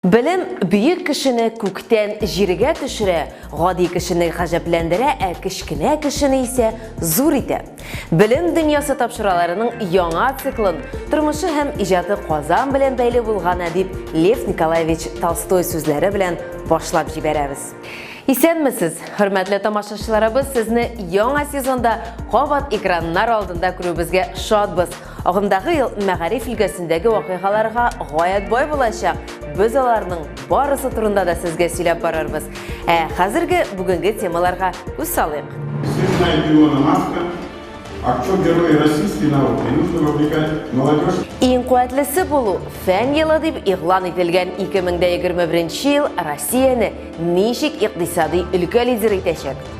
Белем бөек кешене күктән җиргә төшерә, гади кешене гаҗәпләндерә, ә кечкенә кешене исә зур итә. Белем дөньясы тапшыраларының яңа циклын тормышы һәм иҗаты Казан белән бәйле булгана дип Лев Николаевич Толстой сүзләре белән башлап җибәрәбез. Исәнмесез, хөрмәтле тамашачыларыбыз, сезне яңа сезонда кабат экраннар алдында күрүебезгә шатбыз. Агымдагы ел мәгариф өлкәсендәге вакыйгаларга гаять бай булачак. Без аларның барысы турында да сезгә сөйләп барырбыз. Ә хәзерге бүгенге темаларга үз салыйк. Сына Илона Маска, актер герой российской науки, нужно вовлекать молодежь. Иң куәтлесе булу, фән елы дип игълан ителгән 2021 ел Россияне ничек икътисади өлкә лидеры итәчәк?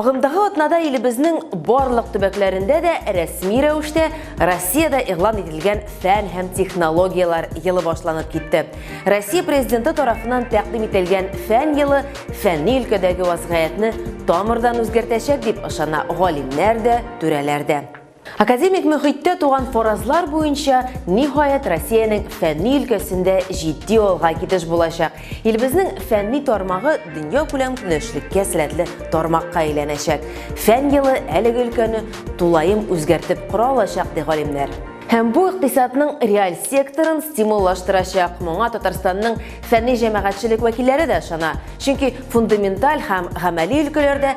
Агымдагы атнада илебезнең барлык төбәкләрендә дә рәсми рәвештә Россиядә игълан ителгән фән һәм технологияләр елы башланып китте. Россия президенты тарафынан тәкъдим ителгән фән елы фәнни өлкәдәге вазгыятьне тамырдан үзгәртәчәк дип ышана галимнәр дә, түрәләр дә. Академик мөхиттә туган фаразлар буенча, ниһаять, Россиянең фәнни өлкәсендә җитди алга китеш булачак. Илебезнең фәнни тармагы дөньякүләм көнләшлеккә сәләтле тармакка әйләнәчәк. Фән елы әлеге өлкәне тулаем үзгәртеп кора алачак, ди галимнәр. Һәм бу икътисадның реаль секторын стимуллаштырачак. Моңа Татарстанның фәнни-җәмәгатьчелек вәкилләре дә ышана. Чөнки фундаменталь һәм гамәли өлкәләрдә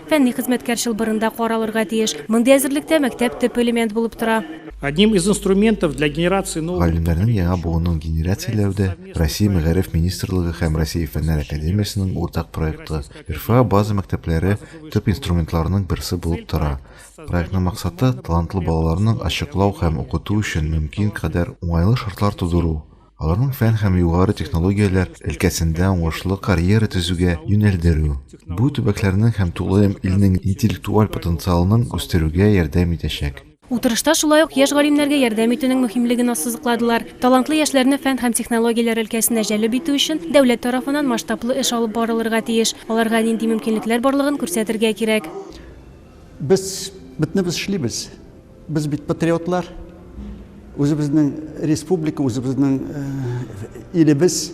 Фәнни хезмәткәр чылбырында каралырга тиеш. Мондый әзерлектә мәктәп төп элемент булып тора. Одним из инструментов для генерации нового Галимнәрнең яңа буынын генерацияләүдә Россия Мәгариф министрлыгы һәм Россия Фәннәр академиясенең уртак проекты, РФА база мәктәпләре төп инструментларның берсе булып тора. Проектның максаты, талантлы балаларның ачыклау һәм укыту өчен мөмкин кадәр уңайлы шартлар тудыру. аларның фән һәм югары технологияләр өлкәсендә уңышлы карьера төзүгә юнәлдерү, бу төбәкләрнең һәм тулаем илнең интеллектуаль потенциалының үстерүгә ярдәм итәчәк. Утырышта шулай ук яшь галимнәргә ярдәм итүнең мөһимлеген ассызыкладылар. Талантлы яшьләрне фән һәм технологияләр өлкәсенә җәлеп итү өчен дәүләт тарафыннан масштаблы эш алып барылырга тиеш, аларга нинди мөмкинлекләр барлыгын күрсәтергә кирәк. Без бөтенебез эшлибез. Без бит патриотлар. Үзебезнең республика, үзебезнең илебез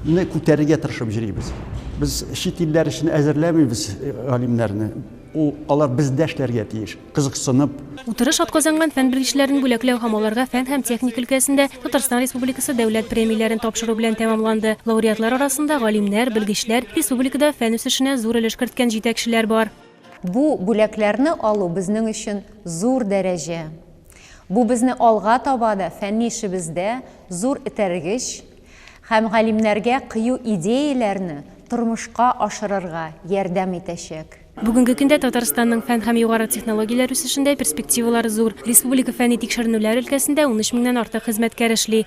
не күтәрергә тырышып йөрибез. Без чит илләр өчен әзерләмибез э, галимнәрне. Ул алар бездәшләргә тиеш, кызыксынып. Утырыш атказанган фән белгечләрен бүләкләү һәм аларга фән һәм техник өлкәсендә Татарстан Республикасы дәүләт премияләрен тапшыру белән тәмамланды. Лауреатлар арасында галимнәр, белгечләр, республикада фән үсешенә зур өлеш керткән җитәкчеләр бар. Бу бүләкләрне алу безнең өчен зур дәрәҗә. Бу безне алга таба да фәнни эшебездә зур этәргеч һәм галимнәргә кыю идеяләрне тормышка ашырырга ярдәм итәчәк. Бүгенге көндә Татарстанның фән һәм югары технологияләр үсешендә перспективалар зур. Республика фәнни-тикшеренүләр өлкәсендә унөч меңнән артык хезмәткәр эшли.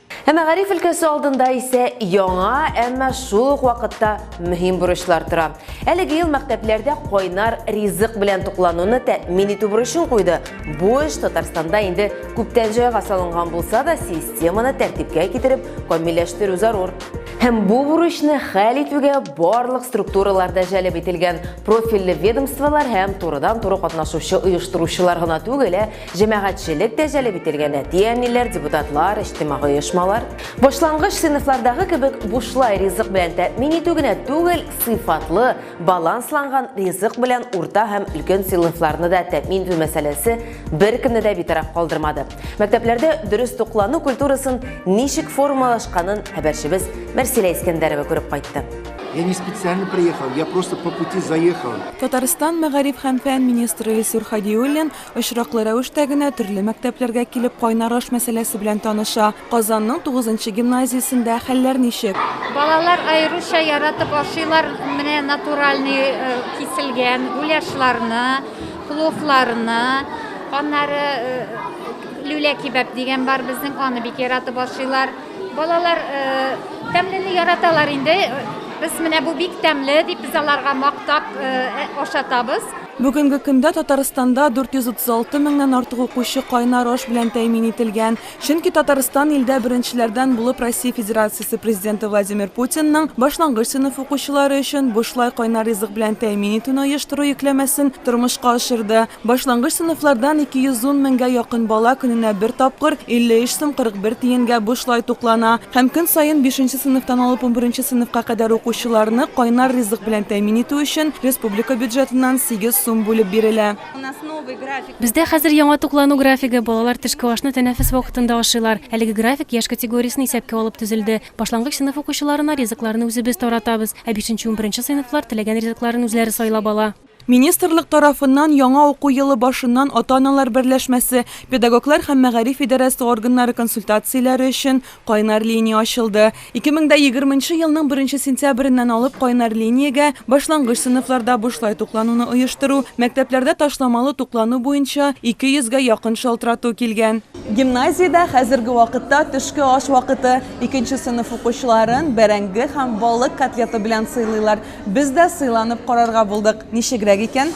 Ә мәгариф өлкәсе алдында исә яңа, әмма шул ук вакытта мөһим бурычлар тора. Әлеге ел мәктәпләрдә кайнар ризык белән туклануны тәэмин итү бурычын куйды. Бу эш Татарстанда инде күптән җайга салынган булса да, системаны тәртипкә китереп, камилләштерү зарур. Һәм бу бурычны хәл итүгә барлык структуралар да җәлеп ителгән, профильле ведомстволар һәм турыдан-туры катнашучы оештыручылар гына түгел, ә Җәмәгатьчелек тә җәлеп ителгән әти-әниләр, депутатлар, иҗтимагый оешмалар. Башлангыч сыйныфлардагы кебек бушлай ризык белән тәэмин итү генә түгел, сыйфатлы, балансланган ризык белән урта һәм өлкән сыйныфларны да тәэмин итү мәсьәләсе беркемне дә битараф калдырмады. Мәктәпләрдә дөрес туклану культурасын ничек формалашканын хәбәрчебез Мәрсилә Искәндәрова күреп кайтты. Я не специально приехал, я просто по пути заехал. Татарстан мәгариф һәм фән министры Илсур Хадиуллин Очраклы рәвештә генә төрле мәктәпләргә килеп кайнар аш мәсьәләсе белән таныша. Казанның тугызынчы гимназиясендә хәлләр ничек? Балалар аеруча яратып ашыйлар менә натуральный киселгән гуляшларны, пловларны. Аннары люля кибәп дигән бар безнең, аны бик яратып ашыйлар. Балалар тәмләне яраталар инде. Без менә бу бик тәмле дип, без аларга мактап ашатабыз. Бүгенге көндә Татарстанда 436 меңнән артык укучы кайнар аш белән тәэмин ителгән. Чөнки Татарстан илдә беренчеләрдән булып Россия Федерациясе Президенты Владимир Путинның башлангыч сыйныф укучылары өчен бушлай кайнар ризык белән тәэмин итүне оештыру йөкләмәсен тормышка ашырды. Башлангыч сыйныфлардан 210 меңгә якын бала көненә бер тапкыр, 53 сум 41 тиенгә бушлай туклана. Һәм көн саен бишенче сыйныфтан алып унберенче сыйныфка кадәр укучыларны кайнар ризык белән тәэмин итү өчен республика бюджетыннан сигез сум бүлеп бирелә. Бездә хәзер яңа туклану графигы, балалар төшке ашны тәнәфес вакытында ашыйлар. Әлеге график яшь категориясен исәпкә алып төзелде. Башлангыч сыйныф укучыларына ризыкларны үзебез таратабыз, ә бишенче-унберенче сыйныфлар теләгән ризыкларын үзләре сайлап ала. Министрлык тарафыннан яңа уку елы башыннан ата-аналар берләшмәсе, педагоглар һәм мәгариф идарәсе органнары консультацияләре өчен кайнар линия ачылды. 2020 нче елның беренче сентябреннән алып кайнар линиягә башлангыч сыйныфларда бушлай туклануны оештыру, мәктәпләрдә ташламалы туклану буенча 200 гә якын шалтырату килгән. Гимназиядә хәзерге вакытта төшке аш вакыты икенче сыйныф укучыларын бәрәңге һәм балык котлеты белән сыйлыйлар. Без дә сыйланып карарга булдык. Ничегрәк икән?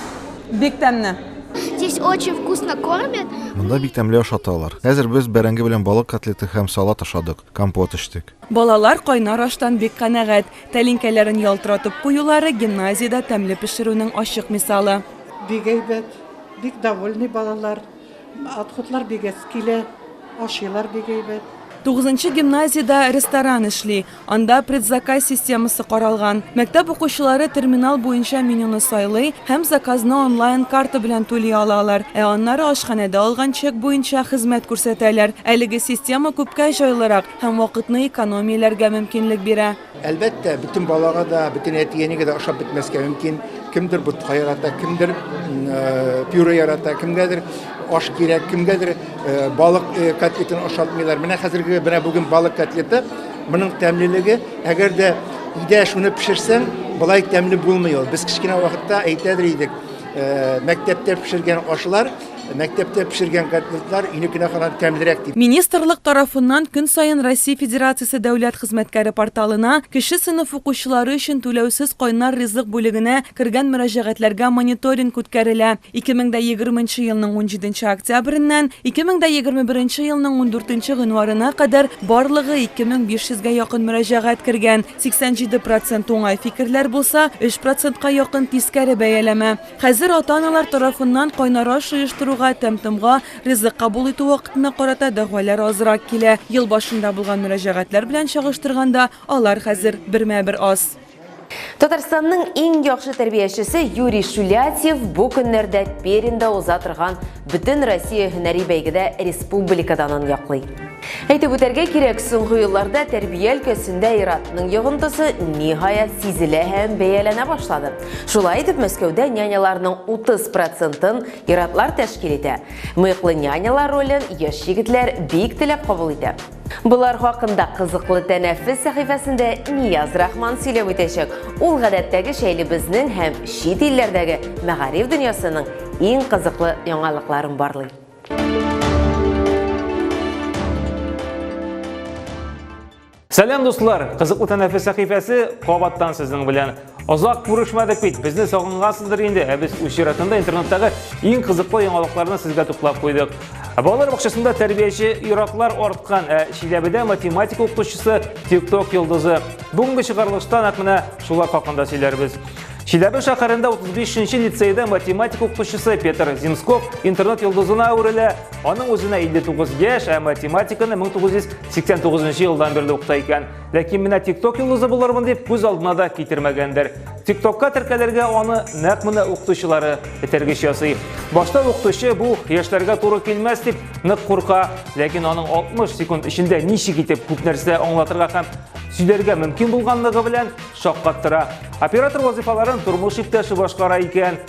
Бик тәмне. Здесь очень вкусно кормят. Монда бик тәмле ашаталар. Хәзер без бәрәңге белән балык котлеты һәм салат ашадык, компот эчтек. Балалар кайнар аштан бик канәгать. Тәлинкәләрен ялтыратып куюлары гимназиядә тәмле пешерүнең ачык мисалы. Бик әйбәт, бик довольный балалар. Отходлар бик әз килә, ашыйлар бик әйбәт. Тугызынчы гимназиядә ресторан эшли, анда предзаказ системасы каралган. Мәктәп укучылары терминал буенча менюны сайлый һәм заказны онлайн карта белән түли алалар, ә аннары ашханәдә алган чек буенча хезмәт күрсәтәләр. Әлеге система күпкә җайлырак һәм вакытны экономияләргә мөмкинлек бирә. Әлбәттә, бөтен балага да, бөтен әти-әнигә дә ашап бетмәскә мөмкин. Кемдер ботка ярата, кемдер э, пюре ярата, кемгәдер аш кирәк, кемгәдер э, балык э, котлетын ашатмыйлар. Менә хәзерге менә бүген балык котлеты, моның тәмлелеге, әгәр дә өйдә шуны пешерсәң, былай тәмле булмый ул. Без кечкенә вакытта әйтәдер идек, мәктәптә пешергән ашлар Мәктәптә пешергән котлетлар өйне кенәханан тәмлерәк дип. Министрлык тарафыннан көн саен Россия Федерациясе дәүләт хезмәткәре порталына кече сыйныф укучылары өчен түләүсез кайнар ризык бүлегенә кергән мөрәҗәгатьләргә мониторинг үткәрелә. 2020 нче елның 17 нче октябреннән 2021 нче елның 14 нче гыйнварына кадәр барлыгы 2500 гә якын мөрәҗәгать кергән, 87 процент уңай фикерләр булса, 3 процентка якын тискәре бәяләмә. Хәзер ата-аналар тарафыннан кайнар аш җыештыруга, тәм-томга, ризык кабул итү вакытына карата дәгъвалар азрак килә. Ел башында булган мөрәҗәгатьләр белән чагыштырганда, алар хәзер бермә-бер аз. Татарстанның иң яхшы тәрбиячесе Юрий Шулятьев бу көннәрдә Пермьдә уза торган Бөтен Россия һөнәри бәйгедә республика данын яклый. Әйтеп үтәргә кирәк, соңгы елларда тәрбия өлкәсендә иратның йогынтысы ниһаять сизелә һәм бәяләнә башлады. Шулай итеп, Мәскәүдә няняларның 30 процентын иратлар тәшкил итә. Мыеклы нянялар ролен яшь егетләр бик теләп кабул итә. Болар хакында кызыклы тәнәфес сәхифәсендә Нияз Рахман сөйләп үтәчәк. Ул гадәттәгечә илебезнең һәм чит илләрдәге мәгариф дөньясының иң кызыклы яңалыкларын барлый. Сәлам дуслар! Кызыклы тәнәфес сәхифәсе кабаттан сезнең белән. Озак күрешмәдек бит, безне сагынгансыздыр инде, ә без үз чиратында интернеттагы иң кызыклы яңалыкларны сезгә туплап куйдык. Балалар бакчасында тәрбияче юраклар арткан, ә Чиләбедә математика укытучысы TikTok йолдызы. Бүгенге чыгарылышта нәкъ менә шулар хакында сөйләрбез. Чиләбе шәһәрендә 35-нче лицейда математика укытучысы Петр Зимсков интернет йолдызына әверелә. Аның үзенә 59 яшь, ә математиканы 1989 елдан бирле укыта икән. Ләкин менә TikTok йолдызы булырмын дип күз алдына да китермәгәндер. TikTokка теркәлергә аны нәкъ менә укытучылары этәргеч ясый. Башта укытучы бу яшьләргә туры килмәс дип нык курка, ләкин аның 60 секунд эчендә ничек итеп күп нәрсә аңлатырга һәм сөйләргә мөмкин булганлыгы белән шаккаттыра. Оператор вазифаларын тормыш иптәше башкара икән.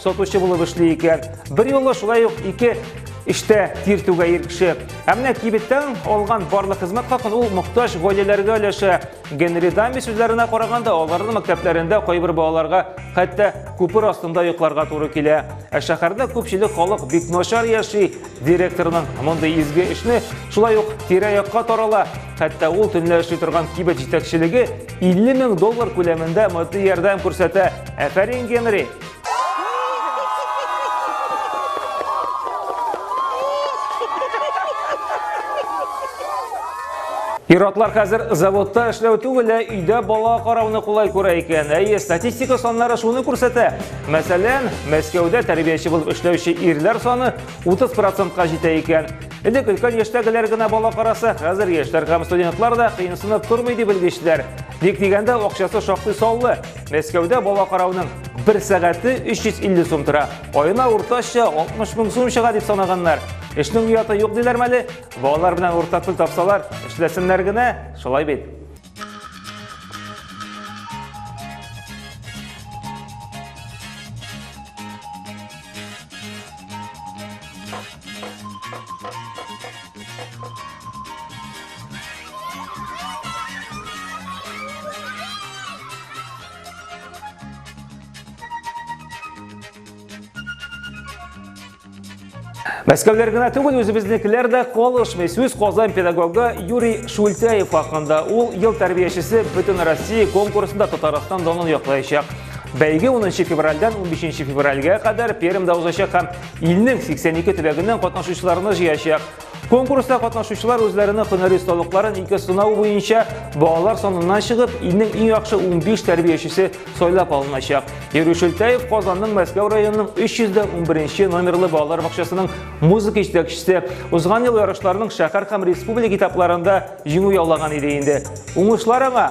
Сатучы булып эшли икән. Бер юлы шулай ук ике эштә тир түгә ир кеше. Ә менә кибеттән алган барлык хезмәт хакын ул мохтаҗ гаиләләргә өләшә. Генри Дамби сүзләренә караганда, аларның мәктәпләрендә кайбер балаларга хәтта күпер астында йокларга туры килә. Ә шәһәрдә күпчелек халык бик начар яши. Директорның мондый изге эшне шулай ук тирә-якка тарала. Хәтта ул төнлә эшли торган кибет җитәкчелеге 50 мең доллар күләмендә матди ярдәм күрсәтә. Әфәрин, Генри! Пиратлар хәзер заводта эшләү түгел, ә өйдә бала карауны кулай күрә икән. Әйе, статистика саннары шуны күрсәтә. Мәсәлән, Мәскәүдә тәрбияче булып эшләүче ирләр саны 30%-ка җитә икән. Элек өлкән яшьтәгеләр генә бала караса, хәзер яшьләр һәм студентлар да кыенсынып тормый дип белгечләр. Ник дигәндә, акчасы шактый саллы. Мәскәүдә бала карауның бер сәгате 350 сум тора. Айына уртача 60 мең сум чыга дип санаганнар. Эшнең яты юк диләр мәле, балалар белән уртак тел тапсалар, эшләсеннәр генә, шулай бит. Мәскәүләр генә түгел, үзебезнекеләр дә калышмый. Сүз Казан педагогы Юрий Шультяев хакында. Ул ел тәрбиячесе бөтен Россия конкурсында Татарстан данын яклаячак. Бәйге 10 февральдән 15 февральгә кадәр Пермьдә узачак һәм Илнең 82 төбәгеннән катнашучыларны җыячак. Конкурста катнашучылар үзләренең һөнәри осталыкларын ике сынау буенча балалар саныннан чыгып, илнең иң яхшы 15 тәрбиячесе сайлап алыначак. Юрий Шөлтәев Казанның Мәскәү районының 311 номерлы балалар бакчасының музыка җитәкчесе. Узган ел ярышларның шәһәр һәм республика этапларында җиңү яулаган иде инде. Уңышлар аңа!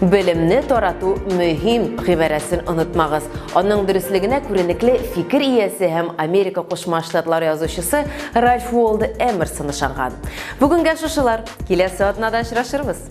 Белемне тарату мөһим гыйбарәсен онытмагыз. Аның дөреслегенә күренекле фикер иясе һәм Америка Кушма Штатлары язучысы Ральф Уолда Эмерсон ышанган. Бүгенгә шушылар. Киләсе атнада очрашырбыз.